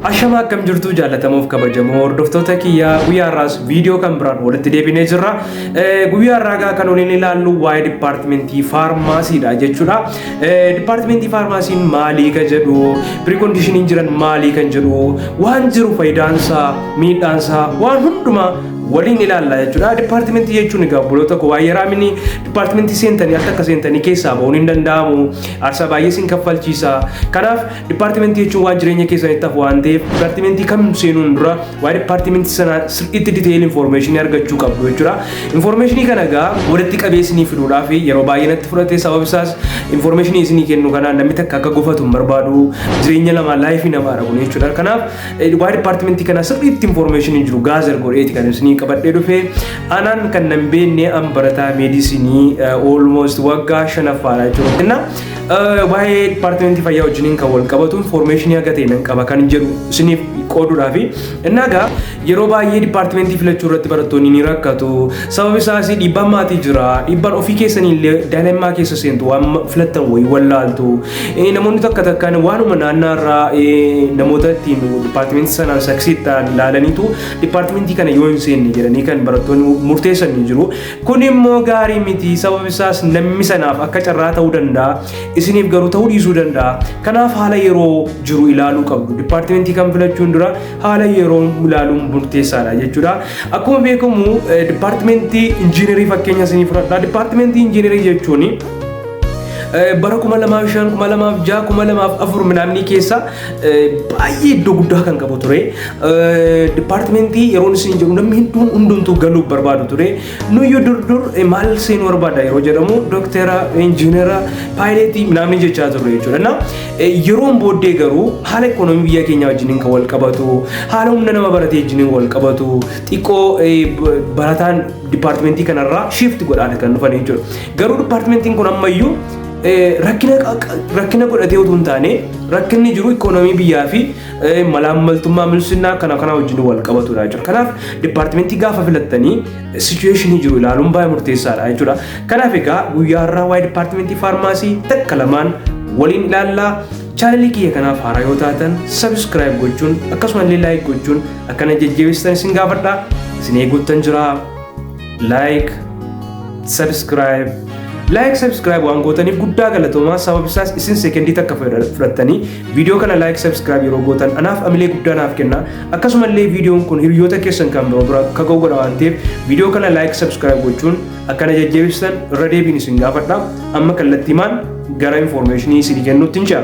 Ashamaa akkam jirtuu jaalatamuuf kabajamoo hordoftoota kiyyaa guyyaa har'aas viidiyoo kan biraan walitti deebinee jirra. Guyyaa har'aa kan waliin ilaallu waa'ee dipaartimentii faarmaasiidha jechuudha. Dipaartimentii faarmaasiin maalii kan jedhu, pirikondiishiniin jiran maalii kan jedhu, waan jiru fayidaansaa, miidhaansaa, waan hundumaa waliin ilaalla jechuudha. Dipaartimentii jechuun egaa obboloota koo waa'ee raamini dipaartimentii seentanii akka akka seentanii keessaa ba'uun hin danda'amu. Aarsaa baay'ee sin kaffalchiisa. Kanaaf Dipaartimentii jechuun waan jireenya keessanitti hafu waan ta'eef dipaartimentii kam seenuun dura waa'ee dipaartimentii sanaa sirriitti diteeyil infoormeeshinii argachuu qabdu jechuudha. Infoormeeshinii kana egaa walitti qabee isinii fiduudhaaf yeroo baay'ee natti fudhate sababni isaas infoormeeshinii isinii kennu kana namni takka akka gofatu hin barbaadu jireenya namaa laayifii namaadha kun jechuudha. Kanaaf waa'ee dipaartimentii kana sirriitti infoormeeshinii jiru gaazar godheeti kan isinii qabadhee dhufe anaan kan nan beenne an barataa meedisinii oolmoost waggaa shanaffaadha jechuudha. Waa'ee dipaartimentii fayyaa wajjiniin kan wal qabatu infoormeeshinii haga ta'e nan qaba kan jedhu isiniif qooduudhaaf innaa gaa yeroo baay'ee dipaartimentii filachuu irratti barattoonni ni rakkatu sababi isaas dhiibbaan maatii jira dhiibbaan ofii keessanii illee daa'immaa keessa seentu waan filattan wayii wallaaltu namoonni takka takkaan waanuma naannaa irraa namoota ittiin dipaartimentii sanaan saksiittaan ilaalaniitu dipaartimentii kana yoo hin seenne jedhanii kan barattoonni murteessan ni jiru Kun immoo gaarii miti sababni isaas namni sanaaf akka carraa ta'uu danda'a isiniif garuu ta'uu dhiisuu danda'a kanaaf haala yeroo jiru ilaaluu qabdu dipaartimentii kan filachuun dura haala yeroo ilaaluun murteessaadha jechuudha akkuma beekamu dipaartimentii injiinarii fakkeenya isinii fudhadha dipaartimentii injiinarii jechuun bara kuma lamaaf shan kuma lamaaf ja'a kuma lamaaf afur minaamnii keessa baay'ee iddoo guddaa kan qabu ture. Dipaartimentii yeroon isin jiru namni hedduun hundumtuu galuuf barbaadu ture. Nuyyuu dur dur maal seenuu barbaada yeroo jedhamu doktera, injiinera, paayileetii naamni jechaa turre jechuudha. Na yeroon booddee garuu haala ikoonoomii biyya keenyaa wajjiniin kan wal qabatu, haala humna nama baratee wajjiniin wal qabatu, xiqqoo barataan dipaartimentii kanarraa shiifti godhaadha kan dhufan jechuudha. Garuu dipaartimentiin kun ammayyuu rakkina rakkina godhatee utuu hin taane rakkinni jiru ikoonomii biyyaa fi malaammaltummaa milsinnaa kana kana wajjin wal qabatudha jechuudha. Kanaaf dipaartimentii gaafa filattanii sichuweeshinii jiru ilaaluun baay'ee murteessaadha jechuudha. Kanaaf egaa guyyaa har'aa waa'ee dipaartimentii faarmaasii takka lamaan waliin ilaallaa. Chaanalii kiyya kanaaf haaraa yoo taatan sabiskiraayib gochuun akkasumallee laayik gochuun akkana jajjabeessitan isin gaafadha. Isin eeguuttan jira. like subscribe like subscribe waan gootaniif guddaa galatoomaa sababni isaas isin sekendii takka fudhattanii viidiyoo kana like subscribe yeroo gootan anaaf amilee guddaa naaf kenna akkasumallee viidiyoon kun hiriyoota keessan kan biroo bira akka ga'u godha waan ta'eef viidiyoo kana like subscribe gochuun akkana jajjabeessitan irra deebiin isin gaafadha amma kallattiimaan gara informeeshinii isin kennuutti hin ce'a.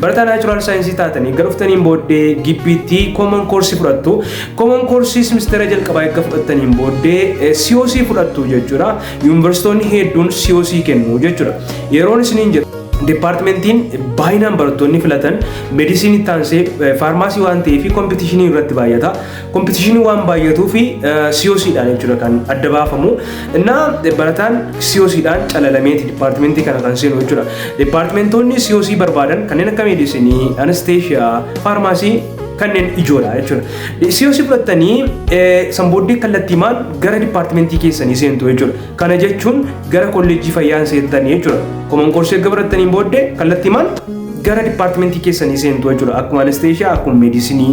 Barataa naachuraal saayinsii taatanii gara dhuftaniin booddee gibbiitti kooman koorsii fudhattu. Kooman koorsii simistera jalqabaa erga fudhattaniin booddee COC fudhattu jechuudha. Yuunivarsiitoonni hedduun COC kennu jechuudha. Yeroon isiniin jedhu Departmentiin baay'inaan barattoonni filatan medisiinii taansee faarmaasii waan ta'eef kompitishinii irratti baay'ata. Kompitishinii waan baay'atuu fi COC dhaan jechuudha kan adda baafamu. Innaa barataan COC dhaan calalameeti dipaartimentii kana kan seenu jechuudha. Dipaartimentoonni COC barbaadan kanneen akka meedisinii, anesteeshiyaa, faarmaasii kanneen ijoodha jechuudha. COC fudhattanii san booddee kallattiimaan gara dipaartimentii keessanii seentu jechuudha. Kana jechuun gara kolleejjii fayyaan seentanii jechuudha. Koman koorsii erga barattaniin booddee kallattiimaan gara dipaartimentii keessanii seentu jechuudha. Akkuma anesteeshiyaa, akkuma meedisinii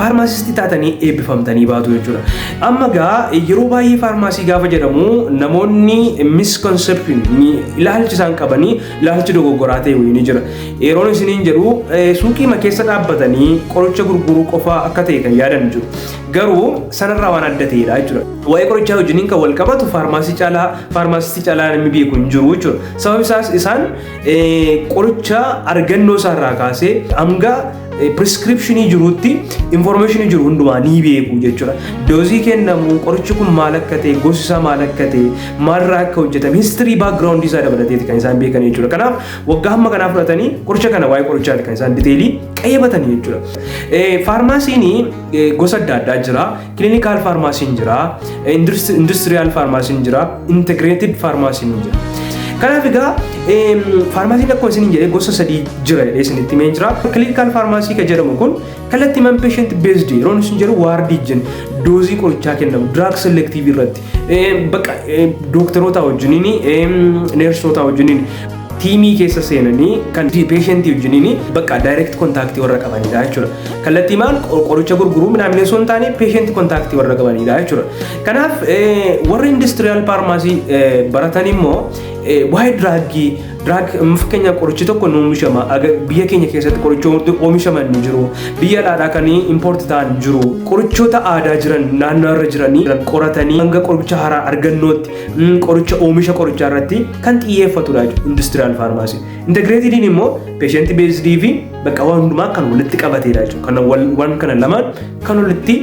faarmaasistii taatanii eebbifamtanii baatu jechuudha. Amma gaa yeroo baay'ee faarmaasii gaafa jedhamu namoonni misconception ilaalchi isaan qabanii ilaalchi dogoggoraa ta'e wayii ni jira. Yeroon isiniin jedhu suuqiima keessa dhaabbatanii qoricha gurguruu qofaa akka ta'e kan yaadan jiru. Garuu sanarraa waan adda ta'edha jechuudha. Waa'ee qorichaa wajjiniin kan wal qabatu faarmaasii caalaa faarmaasistii caalaa namni beeku hin jiru jechuudha. Sababni isaas isaan qoricha argannoo isaarraa kaasee hanga Piriskiripshinii jirutti infoormeeshinii jiru hundumaa ni beeku jechuudha. Doozii kennamu qorichi kun maal akka ta'e, gosi isaa maal akka ta'e, maalirraa akka hojjetame, histirii baakgiraawundii isaa dabalateeti kan isaan beekan jechuudha. Kanaaf waggaa hamma kanaa fudhatanii qoricha kana waa'ee qorichaati kan isaan diteelii qayyabatanii jechuudha. Faarmaasiin gosa adda addaa jira. Kilinikaal faarmaasiin jira, industiriyaal faarmaasiin jira, integreetid faarmaasiin ni jira. Kanaaf egaa faarmaasiin akkuma isin jedhee gosa sadii jira jedhee isinitti himee jira. Kilinikaal faarmaasii kan jedhamu kun kallattii man patient based yeroo isin jedhu waardii jenna doozii qorichaa kennamu drug selective irratti bakka dooktaroota wajjiniin neersootaa wajjiniin tiimii keessa seenanii kan peeshentii wajjiniin bakka direct contact warra qabanidha jechuudha. Kallattiimaan qoricha gurguruu midhaamilee osoo hin taane patient contact warra qabanidha jechuudha. Kanaaf warri industrial pharmacy baratan immoo waa'ee diraaggii diraag fakkeenyaaf qorichi tokko nu oomishama biyya keenya keessatti qorichoota oomishaman ni jiru biyya dhaadhaa kan impoorti ta'an jiru qorichoota aadaa jiran naannoo irra jiranii qoratanii hanga qoricha haaraa argannootti qoricha oomisha qorichaa irratti kan xiyyeeffatudha jechuudha industiriyaal faarmaasii. Integreetidiin immoo peeshenti beesdii fi bakka waan hundumaa kan walitti qabateedha jechuudha. Kana waan kana lamaan kan walitti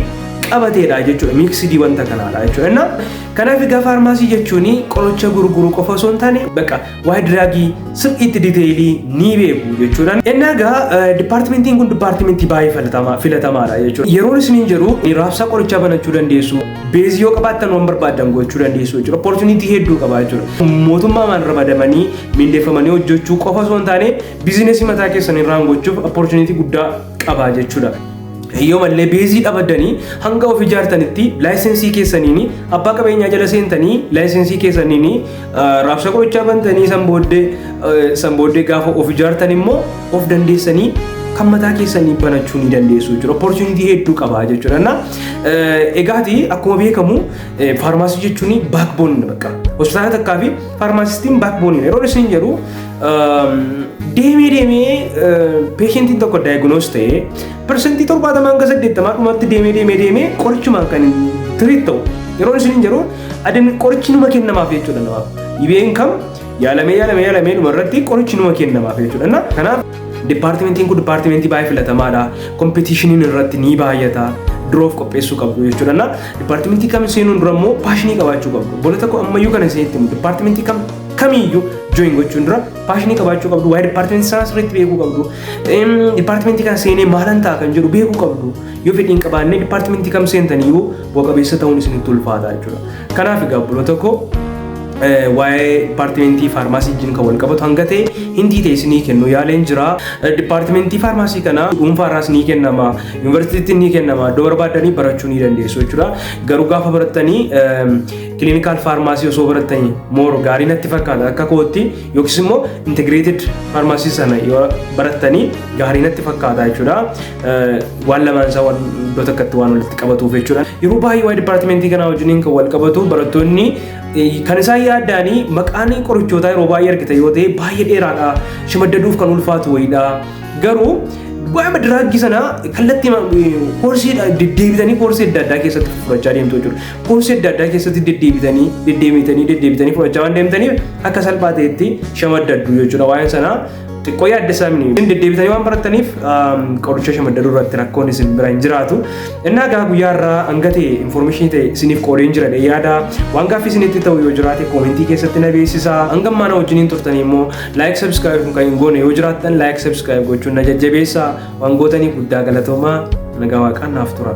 qabateedha jechuudha. Miiksidii wanta kanaadha jechuudha. Inna kanaaf egaa faarmaasii jechuun qoricha gurguru qofa osoo hin taane bakka waa'ee diraagii sirriitti diteelii ni beeku jechuudha. Inni egaa dipaartimentiin kun dipaartimentii baay'ee filatamaa filatamaadha jechuudha. Yeroon isiniin jedhu raabsaa qorichaa banachuu dandeessu. Beezii yoo qabaattan waan barbaaddan gochuu dandeessu jechuudha. Opportunity hedduu qabaa jechuudha. Mootummaamaan ramadamanii mindeeffamanii hojjechuu qofa osoo hin taane biizinesii mataa keessan irraan gochuuf opportunity guddaa qabaa jechuudha. yoo mallee beezii dhabaddanii hanga of ijaartanitti laayisensii keessaniin abbaa qabeenyaa jala seentanii laayisensii keessaniin Raabsa qorichaa bantanii san booddee eh, san booddee gaafa of ijaartan immoo of dandeessanii kan mataa keessanii banachuu ni dandeessu jechuudha. Opportunity hedduu qaba jechuudha. Na eh, egaati akkuma beekamu eh, faarmaasii jechuun backbone bakka. Hospitaala takkaa fi faarmaasistiin backbone yeroo isin jedhu ehm, deemee deemee eh, peeshentiin tokko diagnose ta'ee persentii torbaatamaan hanga saddeettamaa dhumatti deemee deemee deemee qorichumaan kan tiriit ta'u. Yeroo isin jedhu Ademni qorichi numa kennamaaf jechuudha namaaf. Dhibeen kam yaalamee yaalamee yaalamee dhuma irratti qorichi numa kennamaaf jechuudha. Kanaaf dipaartimentiin kun dipaartimentii baay'ee filatamaadha. Kompetiishiniin irratti ni baay'ata. Duroof qopheessuu qabdu jechuudha. Dipaartimentii kam seenuun dura immoo paashinii qabaachuu qabdu. Bola tokko ammayyuu kana isinitti himu dipaartimentii kam kamiyyuu join gochuun dura paashinii qabaachuu qabdu. Waa'ee dipaartimentii sanaa sirriitti beekuu qabdu. Dipaartimentii kana seenee maalan ta'a kan jedhu beekuu qabdu. Yoo fedhiin qabaannee dipaartimentii kam seentanii yoo bu'a qabeessa ta'uun isinitti ulfaata jechuudha. Kanaaf egaa obboloota koo eh, waa'ee dipaartimentii faarmaasii wajjin kan wal qabatu hanga ta'e hindii ta'e isinii kennuu yaaleen jira. Eh, Dipaartimentii faarmaasii kana dhuunfaarraas ni kennama, yuunivarsiitiitti ni kennama, iddoo barbaaddanii barachuu ni dandeessu jechuudha. Garuu gaafa barattanii kiliinikaal faarmaasii osoo barattanii mooro gaarii natti fakkaata akka kootti yookiis immoo integireetid faarmaasii sana yoo barattanii gaarii natti fakkaata jechuudha. waan lamaan isaa waan iddoo tokkotti waan walitti qabatuuf jechuudha. Yeroo baay'ee waa'ee dipaartimentii kanaa wajjiniin kan wal qabatu barattoonni kan isaan yaaddaanii maqaan qorichootaa yeroo baay'ee argita yoo ta'e baay'ee dheeraadha. Shimaddaduuf kan ulfaatu wayiidha. Garuu waa'ee diraagii sana kallattii koorsii deddeebitanii koorsii adda addaa keessatti fudhachaa deemtu jechuudha. Koorsii adda addaa keessatti deddeebitanii deddeebitanii deddeebitanii fudhachaa waan deemtaniif akka salphaa ta'etti shamaddaddu jechuudha waa'een sanaa. Xiqqoo yaaddesaa mini. Isin deddeebitanii waan barattaniif qoricha shamaddaruu irratti rakkoon isin bira hin jiraatu. Innaa gaa guyyaa irraa hanga ta'e infoormeeshinii ta'e isiniif qoodeen jira dhee yaada. Waan gaaffii isinitti ta'u yoo jiraate koomentii keessatti na beeksisa. Hanga ammaana wajjiniin turtanii immoo laayik sabskiraayib kun kan hin goone yoo jiraattan laayik sabskiraayib gochuun na jajjabeessa. Waan gootaniif guddaa galatoomaa nagaa waaqaan naaf tura.